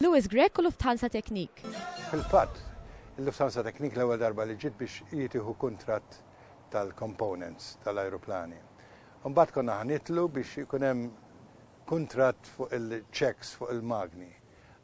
Louis Grech u Lufthansa Technik. Fil-fatt, il-Lufthansa Technik l-ewwel darba li ġiet biex hi tieħu kuntratt tal-components tal-ajruplani. Imbagħad konna ħa nitlu biex ikun hemm kuntratt fuq il-checks fuq il-magni.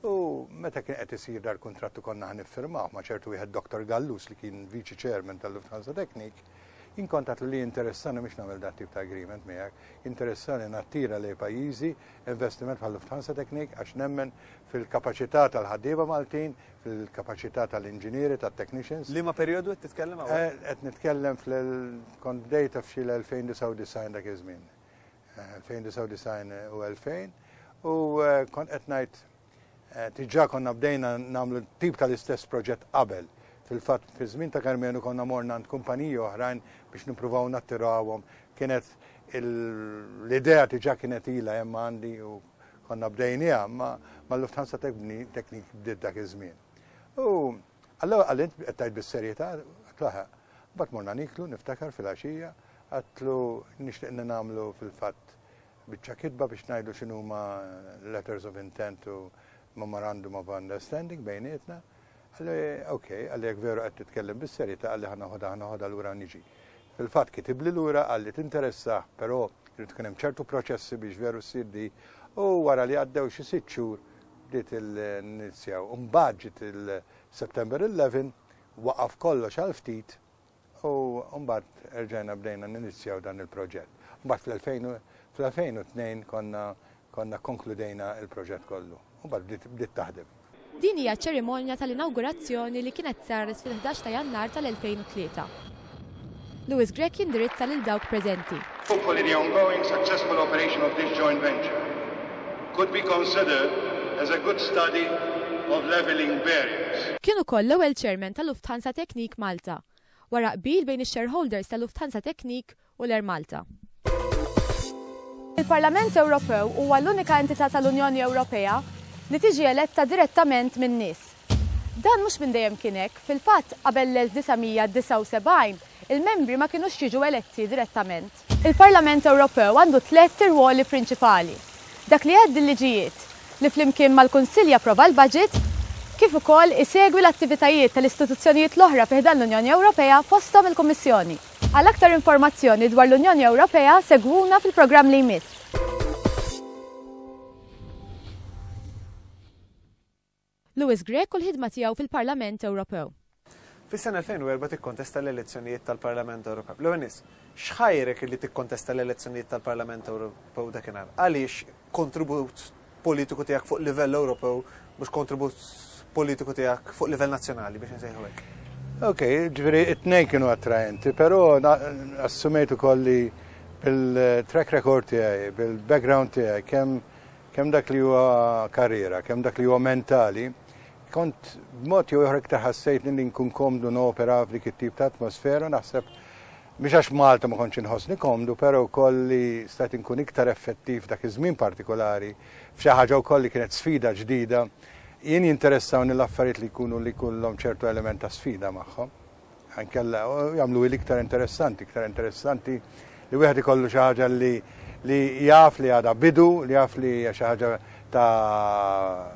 U meta kien qed isir dar kuntratt u konna ħa niffirmawh ma' ċertu wieħed Dr. Gallus li kien viċi chairman tal-Lufthansa Technik, inkontat li interessani mhux nagħmel dat tip ta' agreement miegħek, interessani nattira lej pajjiżi investiment bħal Lufthansa Technik għax nemmen fil-kapaċità tal-ħaddieba Maltin, fil-kapaċità tal-inġinieri, tat-technicians. Liema perjodu qed titkellem hawn? Eh, qed nitkellem fl-kont bdejta f'xi 2099 dak iż-żmien. 2099 eh, u 2000 u eh, kont qed ngħid Diġà konna bdejna nagħmlu tip tal-istess proġett qabel. Fil-fatt, fiż-żmien ta' Karmenu konna morna għand kumpaniji oħrajn biex nippruvaw nattirawhom. Kienet l-idea diġà kienet ilha hemm għandi u konna bdejniha ma' mal-Lufthansa Technik bdiet dak iż-żmien. U allura qal int qed tgħid bis-serjetà, qed laħaq. Mbagħad morna niklu niftakar fil-għaxija, għedtlu nixtieq li nagħmlu fil-fatt Biċċa kitba biex ngħidu x'inhuma letters of intent u memorandum of understanding bejnietna. Għalli, ok, għalli jek veru għed titkellem bis-serjeta għalli ħana ħoda ħana ħoda l-ura niġi. Fil-fat kitib li l-ura għalli tinteressa, pero rrid tkun hemm ċertu proċessi biex veru ssir di u wara li għaddew xi sitt xhur bdiet il-nizjaw. Mbagħad il-September 11 waqaf kollox għal ftit U mbagħad erġajna bdejna ninizjaw dan il-proġett. Mbagħad fl-2002 konna konna konkludejna il-proġett kollu. U bad bdiet taħdem. Din hija ċ-ċerimonja tal-inawgurazzjoni li kienet saret fil-11 ta' Jannar tal-2003. Louis Grech jindirizza lil dawk preżenti. Hopefully the ongoing successful operation of this joint venture could be considered as a good study of levelling barriers. Kien ukoll l-ewwel Chairman ta' Lufthansa Technik Malta, wara qbil bejn ix-shareholders ta' Lufthansa Technik u l-Air Malta. Il-Parlament Ewropew huwa l-unika entità tal-Unjoni Ewropea li tiġi eletta direttament min-nies. Dan mhux minn dejjem kien hekk. Fil-fatt, qabel l-1979, il-membri ma kinux jiġu eletti direttament. Il-Parlament Ewropew għandu tliet irwoli prinċipali, dak li jgħaddi l-liġijiet, li flimkien mal-Kunsill japprova l-baġit, kif ukoll isegwi l-attivitajiet tal-istituzzjonijiet l-oħra fi ħdan l-Unjoni Ewropea, fosthom il-Kummissjoni. Għal aktar informazzjoni dwar l-Unjoni Ewropea segwuna fil-programm li jmiss. Louis Grech u l-ħidma tiegħu fil-Parlament Ewropew. Fis-sena 2004 tikkontesta l-elezzjonijiet tal-Parlament Ewropew. L-ewwel ness, x'ħajrek illi tikkontesta l-elezzjonijiet tal-Parlament Ewropew dakinhar? Għaliex kontribut politiku tiegħek fuq livell Ewropew mhux kontribut politiku tiegħek fuq livell nazzjonali biex insejħu hekk? Ok, ġviri, it-nej kienu attraenti, pero assumejtu kolli bil-track record tiegħi, bil-background tiegħi, kemm kemm dak li huwa karriera, kemm dak li huwa mentali, kont b'mod jew ieħor iktar ħassejtni li nkun komdu nopera f'dik it-tip ta' atmosfera naħseb Mhux għax Malta ma kontx inħossni komdu, però wkoll li stajt inkun iktar effettiv dak iż-żmien partikolari f'xi ħaġa wkoll li kienet sfida ġdida. Jien jinteressawni l-affarijiet li jkunu li jkunlhom ċertu element ta' sfida magħhom. Ankella jagħmlu l-iktar interessanti, iktar interessanti li wieħed ikollu xi ħaġa li li jaf li għada bidu, li jaf li xi ħaġa ta'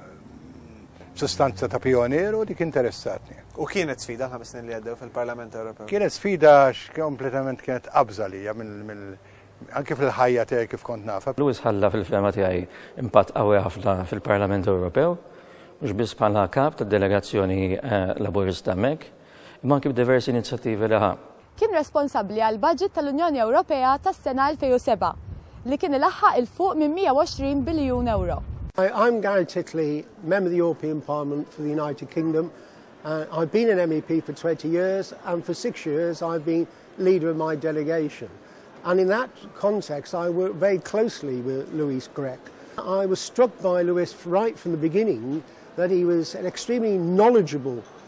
sustanza ta' pionier u dik interessatni. U kienet sfida l-ħames snin li għaddew fil-Parlament Ewropew? Kienet sfida kompletament kienet qabża li mill anke fil-ħajja tiegħi kif kont nafa. Lewis ħalla fil-fema tiegħi impatt qawwi ħafna fil-Parlament Ewropew, mhux biss bħala kap tad-delegazzjoni eh, Laburista Mek, imma anki b'diversi inizjattivi li ħa. Kien responsabbli għall-baġit tal-Unjoni Ewropea tas-sena 2007, li kien ilaħħaq 'il fuq minn 120 biljun ewro. I'm Gareth Titley, Member of the European Parliament for the United Kingdom. Uh, I've been an MEP for 20 years, and for six years I've been leader of my delegation. And in that context, I worked very closely with Luis Grech. I was struck by Luis right from the beginning that he was an extremely knowledgeable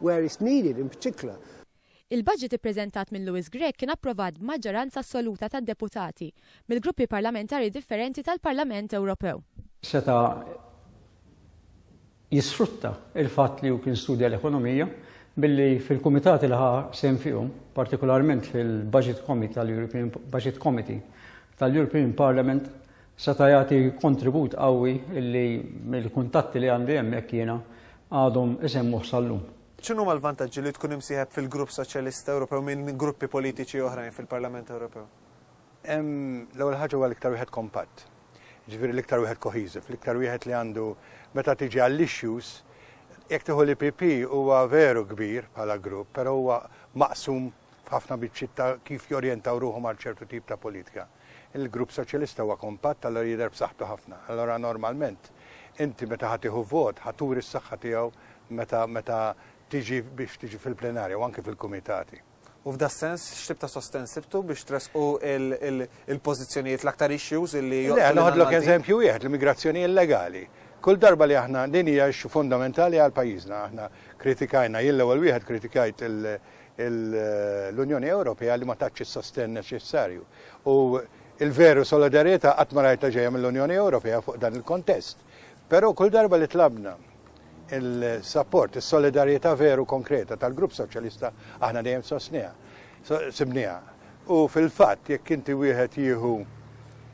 where it's needed in particular. Il-budget ippreżentat minn Louis Grech kien approvat b'maġġoranza assoluta tad-deputati mill-gruppi parlamentari differenti tal-Parlament Ewropew. Seta' jisfrutta l-fatt li hu kien studja l-ekonomija billi fil-kumitati li ħa sehem fihom, partikolarment fil-Budget Committee tal-European Budget Committee tal-European Parliament seta' jagħti kontribut qawwi li mill-kuntatti li għandi hemmhekk jiena għadhom isemmuh sal-lum. X'inhuma l-vantaġġi li tkun imsieħeb fil-Grupp Soċjalista Ewropew minn gruppi politiċi oħrajn fil-Parlament Ewropew? L-ewwel ħaġa huwa l-iktar wieħed kompatt. Jiġifieri l-iktar wieħed cohesive, l-iktar wieħed li għandu meta tiġi għall-issues, jekk tieħu l-EPP huwa veru kbir bħala grupp, però huwa maqsum f'ħafna biċċiet ta' kif jorjentaw ruħhom għal ċertu tip ta' politika. Il-Grupp Soċjalista huwa kompatt allura jidher b'saħħtu ħafna. Allura normalment inti meta ħa tieħu vot ħa turi s-saħħa tiegħu meta meta tiġi biex tiġi fil-plenarja u anke fil-kumitati. U f'da sens, x'tib ta' sosten sibtu biex tresqu il-pożizzjonijiet l-aktar issues li Le, noħodlok eżempju wieħed l-immigrazzjoni illegali. Kull darba li aħna din hija fundamentali għal pajjiżna aħna kritikajna jien l-ewwel wieħed kritikajt il- l-Unjoni Ewropea li ma tatx is-sostenn neċessarju. U il-veru solidarjetà qatt ma rajta ġejja mill-Unjoni Ewropea fuq dan il-kontest. Però kull darba li tlabna il-sapport, is-solidarjetà veru konkreta tal-Grupp Soċjalista aħna dejjem sostniha. Sibniha. U fil-fatt jekk inti wieħed jieħu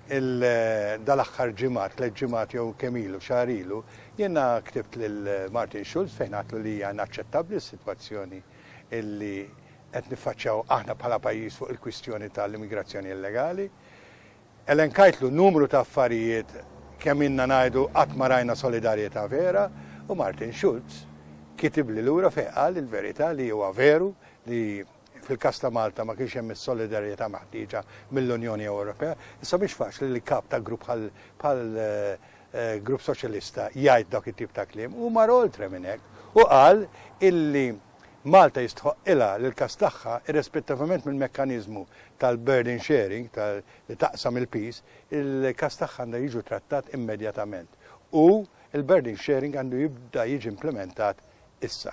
dal-aħħar ġimgħat, tliet ġimgħat jew kemm ilu, xahar ilu, Jiena ktibt lil Martin Schulz fejn għidtlu li hija inaċċettabbli s-sitwazzjoni li qed niffaċċjaw aħna bħala pajjiż fuq il-kwistjoni tal-immigrazzjoni illegali. Elenkajtlu numru ta' affarijiet kemm ilna ngħidu qatt ma rajna solidarjetà vera u Martin Schulz kitibli lura fejn qal il-verità li huwa veru li Fil-każ ta' Malta ma kienx hemm is-solidarjetà meħtieġa mill-Unjoni Ewropea. Issa mhix faċli li kap ta' grupp bħal Grupp Soċjalista jgħid dawk it-tip ta' kliem. Hu mar oltre minn hekk u qal illi Malta jistħoqqilha li l-każ tagħha, irrespettivament mill-mekkaniżmu tal-burden sharing, li taqsam il-piż, il-każ tagħha għandha jiġu trattat immedjatament u l-burden sharing għandu jibda jiġi implementat issa.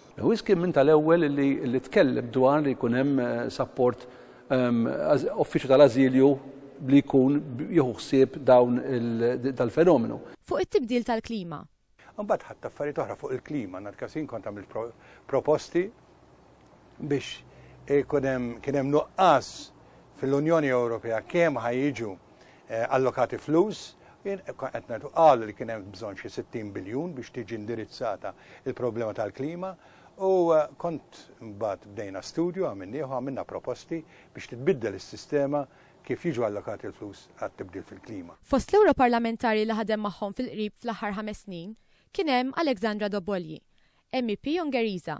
Lewis kien minn tal-ewwel li tkellem dwar li jkun hemm sapport uffiċċju tal-ażilju li jkun jieħu ħsieb dawn dal-fenomenu. Fuq it-tibdil tal-klima. Imbagħad ħadt affarijiet oħra fuq il-klima, nhar Każin kont għamilt proposti biex ikun hemm kien hemm nuqqas fil-Unjoni Ewropea kemm ħa jiġu allokati flus, qed ngħidu qalu li kien hemm bżonn xi 60 biljun biex tiġi indirizzata l-problema tal-klima u kont mbagħad bdejna studju għamilnieh u għamilna proposti biex titbiddel is-sistema kif jiġu allokati l-flus għat-tibdil fil-klima. Fost l-Ewroparlamentari li ħadem magħhom fil-qrib fl-aħħar ħames snin kien hemm Alexandra Dobolyi, MEP Ungeriża.